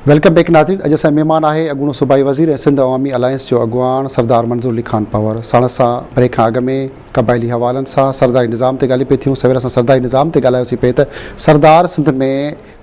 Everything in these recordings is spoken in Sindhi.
ويلڪم بيڪ ناظرين اڄ اسان مهمان آهي اڳوڻو صوبائي وزير ۽ سنڌ عوامي الائنس جو اڳواڻ سردار منظور علي خان پنهور ساڻس سان بريڪ کان اڳ ۾ قبائلي حوالن سان سرداري نظام تي ڳالهيون پئي ٿيون سوير اسان سرداري نظام تي ڳالهايوسين پئي ته سردار سنڌ ۾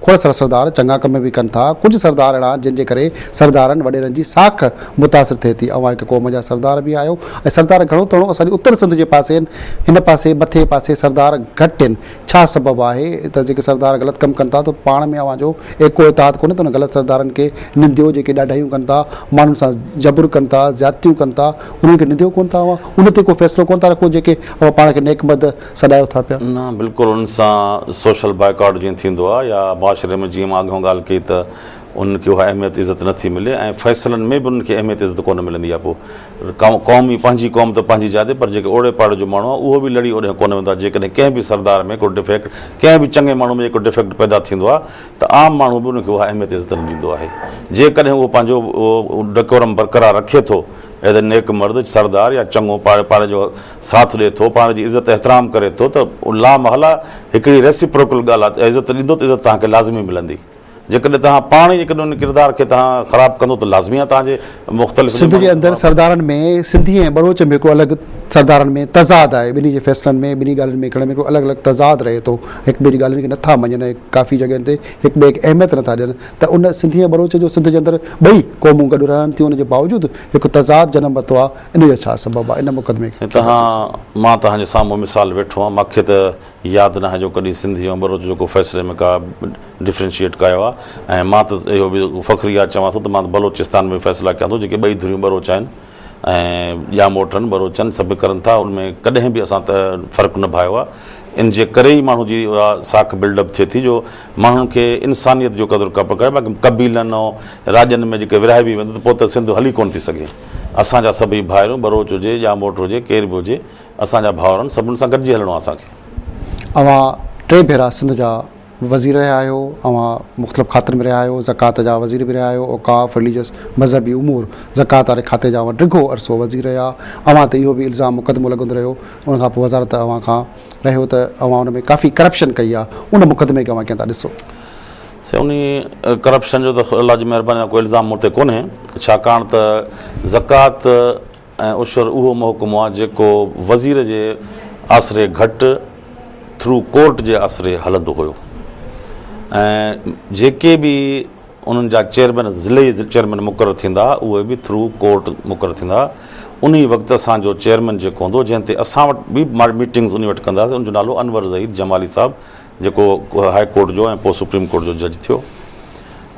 کوڙ سارا سردار چڱا ڪم به ڪن ٿا. ڪجهه سردار اهڙا آهن جن جي ڪري سردارن وڏيرن جي ساک متاثر ٿئي ٿي. اوهان هڪ قوم جا سردار به آهيو ۽ سردار گهڻو تڻو اسان جي اتر سنڌ جي پاسي آهن. هن پاسي مٿي پاسي سردار گهٽ آهن. ڇا سبب آهي ته جيڪي سردار غلط ڪم ڪن ٿا ته پاڻ ۾ اوهان جو ايڪو اتحاد ڪونهي ته انهن غلط سردارن کي ننديو جيڪي ڏاڍايون ڪن ٿا ماڻهن سان جبر ڪن ٿا زيادتيون ڪن ٿا انهن کي ننديو ڪونه ٿا اوهان ان تي ڪو فيصلو ڪونه ٿا رکو جيڪي اوهان پاڻ کي نيڪ مرد سڏايو ٿا پيا. نه بلڪل انهن سان سوشل بائيڪاٽ جيئن ٿيندو آهي يا معاشري ۾ جيئن مان اڳهون ڳالهه ڪئي ته انهن کي اها اهميت عزت نه ٿي ملي ۽ فيصلن ۾ به انهن کي اهميت عزت ڪونه ملندي آهي پوء قوم ئي پنهنجي قوم ته پنهنجي جاء تي پر جيڪي اوڙي پاڙي جو ماڻهو آهي اهو به لڙي اوڏهه ڪونه ويندو آهي جيڪڏهن ڪنهن به سردار ۾ ڪو ڊفيڪٽ ڪنهن به چڱي ماڻهو ۾ جيڪو ڊفيڪٽ پيدا ٿيندو آهي ته عام ماڻهو به ان کي اها اهميت عزت نه ڏيندو آهي جيڪڏهن اهو پنهنجو ڊڪورم برقرار رکي ٿو ايز اي نيڪ مرد سردار يا چڱو پاڙي جو ساٿ ڏئي ٿو، پاڻ جي عزت احترام ڪري ٿو ته ان لا محاله هڪڙي Reciprocal ڳالهه آهي ته عزت ڏيندو ته عزت توهان کي لازمي ملندي. جيڪڏهن توهان پاڻ ئي جيڪڏهن ان ڪردار کي توهان خراب ڪندو ته لازمي آهي توهان جي مختلف سنڌ جي اندر سردارن ۾ سنڌي ۽ ٻروچ ۾ ڪو الڳ سردارن ۾ تضاد آهي ٻنهي جي فيصلن ۾ ٻنهي ڳالهين ۾ ڪرڻ ۾ ڪو الڳ الڳ تضاد رهي ٿو هڪ ٻئي جي ڳالهين کي نٿا مڃن ۽ ڪافي جڳهين تي هڪ ٻئي کي اهميت نٿا ڏين ته ان سنڌي ۽ ٻروچ جو سنڌ جي اندر ٻئي قومون گڏ رهن ٿيون ان جي باوجود هڪ تضاد جنم ورتو آهي ان جو ڇا سبب آهي ان مقدمي کي ڪير هٿ ۾ کڻيو؟ مان تهان جي سامهون مثال ويٺو هان مان کي ته ياد ناهي جو ڪڏهن سنڌي ۽ بلوچ جو ڪو فيصلي ۾ ڪا ڊفرينشيئيٽ ڪايو آهي ۽ مان ته اهو به فخريات چوان ٿو ته مان ته بلوچستان ۾ به فيصلا ڪيان ٿو جيڪي ٻئي ڌريون بلوچ آهن ۽ يا موٽن بلوچن سڀ ڪرن ٿا ان ۾ ڪڏهن به اسان ته فرق نڀايو آهي ان جي ڪري ئي ماڻهو جي اها ساک بلڊ اپ ٿئي ٿي جو ماڻهن کي انسانيت جو قدر ڪپڪ آهي باقي قبيلن ۽ راڄن ۾ جيڪي ورهائبي ويندو ته پوء ته سنڌ هلي ڪونه ٿي سگهي. اسان جا سڀئي ڀائرون، ٻروچ هجي، ڄاموٽ هجي، ڪير به هجي، اسان جا ڀائرن، سڀني سان گڏجي هلڻو آهي اسان کي. اوهان ٽي ڀيرا سنڌ جا وزير رهيا آهيو، اوهان مختلف کاتن ۾ رهيا آهيو، زڪوات جا وزير به رهيا آهيو، اوقاف، رليجس، مذهبي امور، زڪوات واري کاتي جا اوهان ڊگهو عرصو وزير رهيا، اوهان تي اهو به الزام مقدمو لڳندو رهيو، ان کان پوء وزارت اوهان کان رهيو ته اوهان ان ۾ ڪافي ڪرپشن ڪئي آهي، ان مقدمي کي اوهان ڪيئن ٿا ڏسو؟ سوني ڪرپشن جو ته الله جي مهرباني سان ڪو الزام مون تي ڪونهي ڇاڪاڻ ته زڪوات ۽ عشر اهو محڪمو آهي جيڪو وزير جي آسري گهٽ ٿرو ڪورٽ جي آسري هلندو هيو ۽ جيڪي به انهن جا چيئرمين ضلعي چيئرمين مقرر ٿيندا اهي به ٿرو ڪورٽ مقرر ٿيندا انهي وقت اسان جو چيئرمين جيڪو هوندو جنهن تي اسان وٽ به ميٽنگز انهي وٽ ڪنداسين ان جو نالو انور ظهير جمالي صاحب جيڪو هاء ڪورٽ جو ۽ پوء سپريم ڪورٽ جو جج ٿيو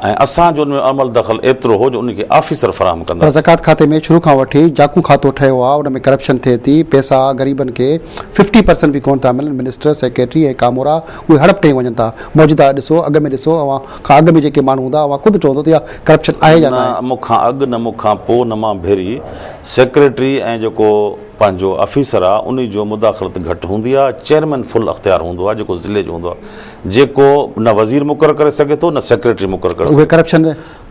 ۽ اسان جو ان ۾ عمل دخل ايترو هو جو ان کي آفيسر فراهم ڪنداسين. پر زڪوات کاتي ۾ شروع کان وٺي جاکو کاتو ٺهيو آهي ان ۾ ڪرپشن ٿئي ٿي پيسا غريبن کي ففٽي پرسنٽ به ڪونه ٿا ملن منسٽر سيڪريٽري ۽ ڪامورا اهي هڙپ ٽهي وڃن ٿا موجوده ڏسو اڳ ۾ ڏسو اوهان کان اڳ ۾ جيڪي ماڻهو هوندا اوهان خود چوندو ته اها ڪرپشن آهي يا نه آهي. نه مون کان اڳ نه مون کان پوء نه مان ڀيري سيڪريٽري ۽ جيڪو پنهنجو آفيسر آ انهي جو مداخلت گهٽ هوندي آ چيئرمين فل اختيار هوندو آ جيڪو ضلعي جو هوندو آ جيڪو نه وزير مقرر ڪري سگهي ٿو نه سيڪريٽري مقرر ڪري سگهي ٿو ڪرپشن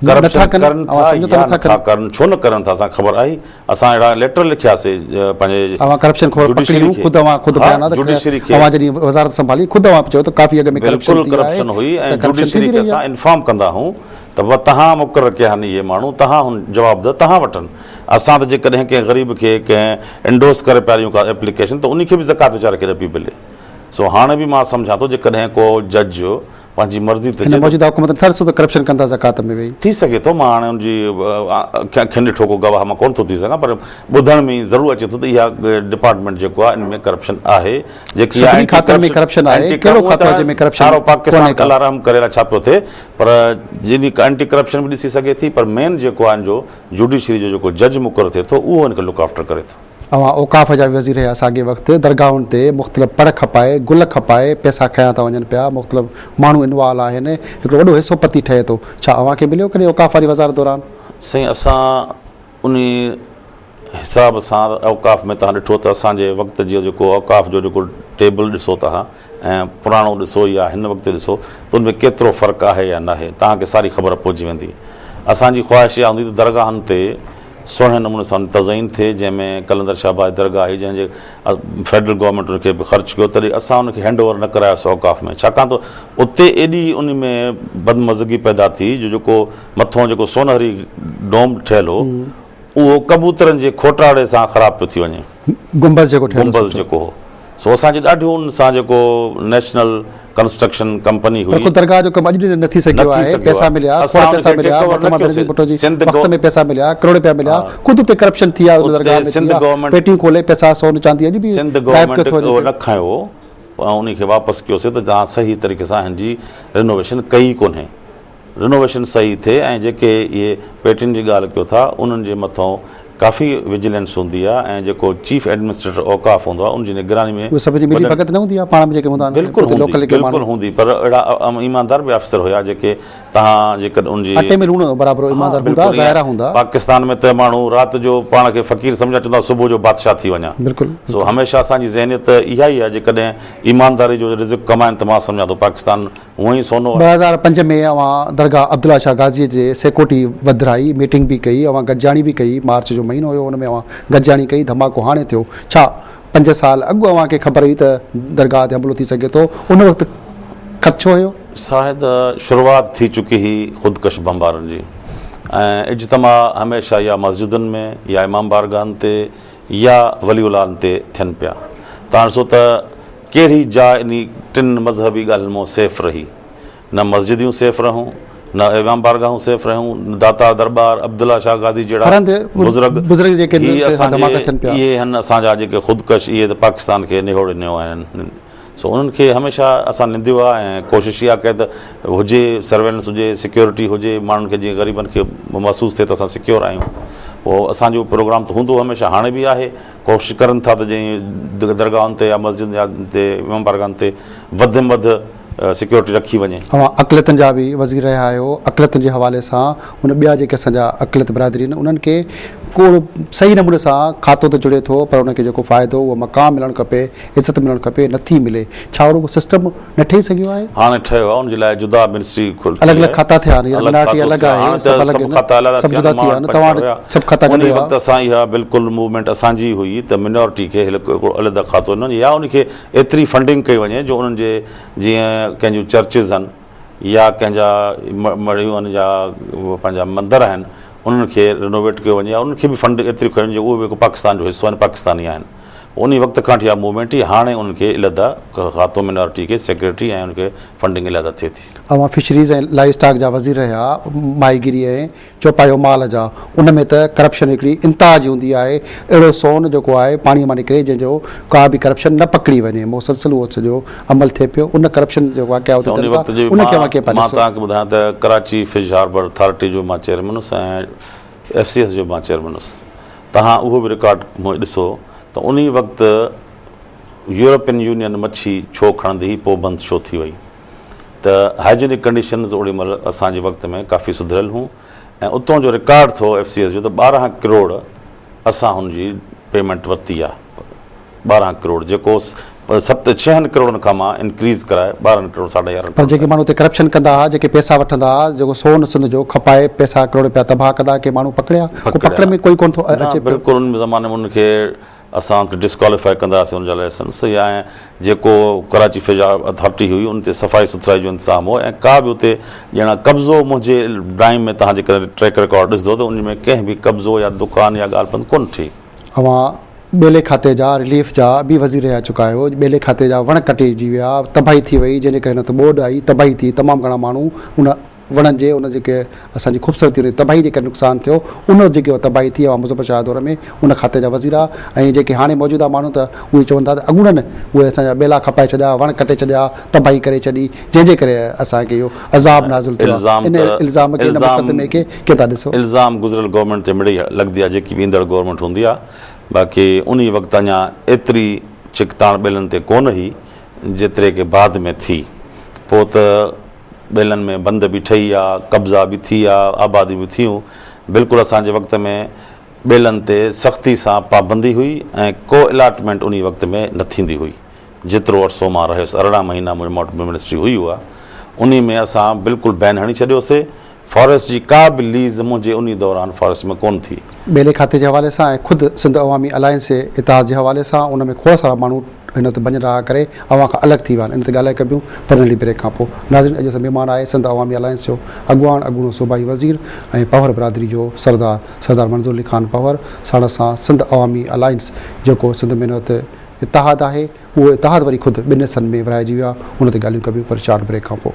ڪرن ٿا يا نٿا ڪرن ڇو نه ڪرن ٿا اسان کي خبر آهي اسان اهڙا ليٽر لکيا سي پنهنجي انفارم ڪندا هون ته تهان مقرر ڪيا آهن اهي ماڻهو تهان جواب ده تهان وٺن. اسان ته جيڪڏهن ڪنهن غريب کي ڪنهن انڊورس ڪري پيا ڏيون ڪا ايپليڪيشن ته انهي کي به زڪوات ويچاري کي نه پئي ملي سو هاڻي به مان سمجهان ٿو جيڪڏهن ڪو جج پنهنجي مرضي ته هن موجوده حڪومت نه ٿرس ته ڪرپشن ڪندا زڪوات ۾ ويهي. ٿي سگهي ٿو مان هاڻي ان جي اکين ڏٺو ڪو گواهه مان ڪونه ٿو ٿي سگهان پر ٻڌڻ ۾ ائين ضرور اچي ٿو ته اها ڊپارٽمينٽ جيڪو آهي ان ۾ ڪرپشن آهي جيڪي آهي سڀني کاتن ۾ ڪرپشن آهي ڪهڙو کاتو آهي جنهن ۾ ڪرپشن سارو پاڪستان الله رحم ڪري الاء ڇا پيو ٿئي پر جن جي ڪانٽي ڪرپشن به ڏسي سگهي ٿي پر مين جيڪو آهي ان جو جوڊيشري جو جيڪو جج مقرر ٿئي ٿو اهو هن کي لڪ آفٽر ڪري ٿو. اوهان اوقاف جا به وزير هيا ساڳئي وقت درگاهن تي مختلف پڙ کپائي گل کپائي پئسا کنيا ٿا وڃن پيا مختلف ماڻهو انوال آهن هڪڙو وڏو حصو پتي ٺهي ٿو ڇا اوهان کي مليو ڪڏهن اوقاف واري وزارت دوران؟ سائين اسان انهي حساب سان اوقاف ۾ توهان ڏٺو ته اسان جي وقت جي جيڪو اوقاف جو جيڪو ٽيبل ڏسو توهان ۽ پراڻو ڏسو يا هن وقت جو ڏسو ته ان ۾ ڪيترو فرق آهي يا ناهي توهان کي ساري خبر پئجي ويندي. اسان جي خواهش اها هوندي ته درگاهن تي سهڻي نموني سان تزئين ٿئي جنهن ۾ قلندر شهباز درگاهه هئي جنهن جي فيڊرل گورنمينٽ ان کي به خرچ ڪيو تڏهن اسان ان کي هينڊ اوور نه ڪرايوسي اوقاف ۾ ڇاڪاڻ ته اتي ايڏي ان ۾ بدمزگي پيدا ٿي جو جيڪو مٿون جيڪو سونهري ڊوم ٺهيل هو اهو ڪبوترن جي کوٽاڙي سان خراب پيو ٿي وڃي. گنبذ جيڪو ٺهيل هو سٺو. گنبذ جيڪو هو سو اسان جي ڏاڍي ان سان جيڪو نيشنل ڪنسٽرڪشن ڪمپني هئي. پر خود درگاهه جو ڪم اڄ به نه ٿي سگهيو آهي. پيسا مليا، کوڙ پيسا مليا، محترمه بينظير ڀٽو جي وقت ۾ پيسا مليا، ڪروڙ رپيا مليا، خود اتي ڪرپشن ٿي آهي ان درگاهه ۾ ٿي آهي، پيٽيون کولي پيسا سون چاندي اڄ به غائب پيو ٿو وڃي. سنڌ گورنمينٽ نه کنيو ان کي واپس ڪيوسي ته جان صحيح طريقي سان هن جي رينوويشن ڪئي ئي ڪونهي. رينوويشن صحيح ٿئي ۽ جيڪي اهي پيٽين جي ڳالهه ڪيو ٿا انهن جي مٿئون ڪافي وجيلينس هوندي آهي ۽ جيڪو چيف ايڊمنسٽريٽر اوقاف هوندو آهي ان جي نگراني ۾ اهي سڀ جي ملي ڀڳت نه هوندي آهي پاڻ ۾ جيڪي هوندا آهن بلڪل اتي لوڪل هوندي جيڪي ماڻهو بلڪل هوندي پر اهڙا ايماندار به آفيسر هيا جيڪي تهان جيڪڏهن ان جي اٽي ۾ لوڻ برابر ها ايماندار هوندا بلڪل ائين ظاهرا هوندا پاڪستان ۾ ته ماڻهو رات جو پاڻ کي فقير سمجهن چوندا صبح جو بادشاهه ٿي وڃان بلڪل سو هميشه اسان جي ذهنيت اها ئي آهي جيڪڏهن ايمانداري جو رزق ڪمائن ته مان سمجهان ٿو پاڪستان هونء ئي سونو آهي. ٻه هزار پنج ۾ اوهان درگاهه عبدالله شاهه غازيء جي سيڪورٽي وڌرائي، ميٽنگ به ڪئي، اوهان گڏجاڻي به ڪئي، مارچ جو مهينو هيو، ان ۾ اوهان گڏجاڻي ڪئي، ڌماڪو هاڻي ٿيو، ڇا پنج سال اڳ اوهان کي خبر هئي ته درگاهه تي حملو ٿي سگهي ٿو، ان وقت خدشو هيو؟ شاهد، شروعات ٿي چڪي هئي خودڪش بمبارن جي ۽ اجتماع هميشه يا مسجدن ۾ يا امام بارگاهن تي يا ولي العالن تي ٿين پيا تاڻ سو ته ڪهڙي جاء انهي ٽن مذهبي ڳالهين مون سيف رهي. نه مسجديون سيف رهيون، نه ايوان بارگاهون سيف رهيون، نه داتا درٻار، عبدالله شاهه گادي جهڙا بزرگ، هي اسان جي اهي هن اسان جا جيڪي خودڪش اهي ته پاڪستان کي نهوڙي نيو آهن. سو انهن کي هميشه اسان ننديو آهي ۽ ڪوشش اها ڪئي ته هجي سرويلنس هجي سيڪيورٽي هجي ماڻهن کي جيئن غريبن کي محسوس ٿئي ته اسان سيڪيور آهيون اهو اسان جو پروگرام ته هوندو هميشه هاڻي به آهي ڪوشش ڪرن ٿا ته جئين درگاهن تي يا مسجدن يا تي امام بارگاهن تي وڌ ۾ وڌ سيڪيورٽي رکي وڃي. اوهان اقليتن جا به وزير رهيا آهيو اقليتن جي حوالي سان هن ٻيا جيڪي اسان جا اقليت برادري آهن انهن کي ڪو صحيح نموني سان کاتو ته جڙي ٿو پر انهن کي جيڪو فائدو اهو مقام ملڻ کپي عزت ملڻ کپي، نه ٿي ملي. ڇا رڳو سسٽم نه ٺهي سگهيو آهي؟ هاڻي ٺهيو آهي، ان جي لاء جدا منسٽري کولي آهي. الڳ الڳ کاتا ٿيا آهن، الڳ کاتو ٿيو آهي، هاڻي ته سڀ کاتا علحده ٿيا آهن، ماڻهن پنهنجا ٺاهيا هيا، انهي وقت اسان اها بلڪل موومينٽ اسان جي هئي ته منارٽي کي هڪڙو علحده کاتو ڏنو وڃي يا ان کي ايتري فنڊنگ ڪئي وڃي جو انهن جي جيئن ڪنهن جون چرچز آهن يا ڪنهن جا مڙهيون آهن يا پنهنجا مندر آهن انهن کي رينوويٽ ڪيو وڃي يا انهن کي به فنڊ ايتري ڪيو وڃي جو اهي به هڪ پاڪستان جو حصو آهن، پاڪستاني آهن. انهي وقت کان وٺي اها موومينٽ ئي هاڻي ان کي علحده کاتو مينارٽي کي سيڪريٽري ۽ ان کي فنڊنگ علحده ٿئي ٿي. اوهان فشريز ۽ لائي اسٽاڪ جا وزير رهيا، ماهي گيري ۽ چوپايو مال جا، ان ۾ ته ڪرپشن هڪڙي انتها جي هوندي آهي، اهڙو سون جيڪو آهي پاڻي مان نڪري جنهن جو ڪا به ڪرپشن نه پڪڙي وڃي، مسلسل اهو سڄو عمل ٿئي پيو، ان ڪرپشن جي واقعا اتي ٿين ٿا ان کي اوهان ڪيئن پيا ڏسو؟ مان توهان کي ٻڌايان ته ڪراچي فش هاربر اٿارٽي جو مان چيئرمين هوس ۽ ايف سي ايس جو به مان چيئرمين هوس، توهان اهو به رڪارڊ هونئن ڏسو ته انهي وقت يورپين يونين مڇي ڇو کڻندي هئي پوء بند ڇو ٿي وئي ته هائجينڪ ڪنڊيشنز اوڙي مهل اسان جي وقت ۾ ڪافي سڌريل هون ۽ اتون جو رڪارڊ ٿو ايف سي ايس جو ته ٻارهن ڪروڙ اسان هن جي پيمينٽ ورتي آهي. ٻارهن ڪروڙ جيڪو ست ڇهن ڪروڙن کان مان انڪريز ڪرائي ٻارهن ڪروڙ ساڍا يارهن پر جيڪي ماڻهو اتي ڪرپشن ڪندا ها جيڪي پيسا وٺندا ها جيڪو سون سنڌ جو کپائي پيسا ڪروڙ رپيا تباهه ڪندا ها ڪي ماڻهو پڪڙيا ڪو پڪڙ ۾ ڪوئي ڪون ٿو اچي پيو بلڪل ان زماني ۾ ان کي اسان ڊسڪواليفائي ڪندا هئاسين ان جا لائسنس يا ائين جيڪو ڪراچي فضا اٿارٽي هئي ان تي صفائي سٿرائي جو انتظام هو ۽ ڪا به اتي ڄڻا قبضو منهنجي ڊرائنگ ۾ توهان جيڪڏهن ٽريڪ رڪارڊ ڏسندو ته ان ۾ ڪنهن به قبضو يا دڪان يا ڳالهه بند ڪون ٿي اوهان ٻيلي کاتي جا رليف جا به وزير رهي چڪا آهيو، ٻيلي کاتي جا وڻ ڪٽجي ويا، تباهي ٿي وئي جنهن جي ڪري نه ته ٻوڏ آئي، تباهي ٿي، تمام گهڻا ماڻهو ان وڻن جي ان جيڪي اسان جي خوبصورتي ان جي تباهي جي ڪري نقصان ٿيو، ان وقت جيڪي اها تباهي ٿي اوهان مظفر شاهه دور ۾ ان کاتي جا وزير ها ۽ جيڪي هاڻي موجوده ماڻهو ته اهي چون ٿا ته اڳوڻن اهي اسان جا ٻيلا کپائي ڇڏيا، وڻ ڪٽي ڇڏيا، تباهي ڪري ڇڏي جنهن جي ڪري اسان کي اهو عذاب نازل ٿيو آهي، ان الزام کي ان مقدمي کي الزام گذريل گورنمينٽ تي مڙئي لڳندي آهي جيڪي به ايندڙ گورنمينٽ هوندي آهي باقي انهي وقت اڃا ايتري ڇڪتاڻ ٻيلن تي ڪونه هئي جيتري ڪي بعد ۾ ٿي پوء ته ٻيلن ۾ بند به ٺهي آ قبضا به ٿي آ آباديون به ٿيون بلڪل اسان جي وقت ۾ ٻيلن تي سختي سان پابندي هئي ۽ ڪو الاٽمينٽ انهي وقت ۾ نه ٿيندي هئي جيترو عرصو مان رهيس ارڙهن مهينا منهنجي موٽ منسٽري هئي اها انهي ۾ اسان بلڪل بين هڻي ڇڏيو سي فاريسٽ جي ڪا به ليز منهنجي انهي دوران فاريسٽ ۾ ڪونه ٿي. ٻيلي کاتي جي حوالي سان ۽ خود سنڌ عوامي الائنس جي اتحاد جي حوالي سان ان ۾ کوڙ سارا ماڻهو هن وقت بنين راهه ڪري اوهان کان الڳ ٿي ويا آهن ان تي ڳالهائي ڪبيون پر ننڍي بريڪ کان پوء ناظرين اڄ اسان مهمان آهي سنڌ عوامي الائنس جو اڳواڻ اڳوڻو صوبائي وزير ۽ پنهور برادري جو سردار سردار منظور علي خان پنهور ساڻس سان سنڌ عوامي الائنس جيڪو سنڌ مين وت اتحاد آهي اهو اتحاد وري خود ٻن حصن ۾ ورهائجي ويو آهي، ان تي ڳالهيون ڪبيون پر شارٽ بريڪ کان پوء.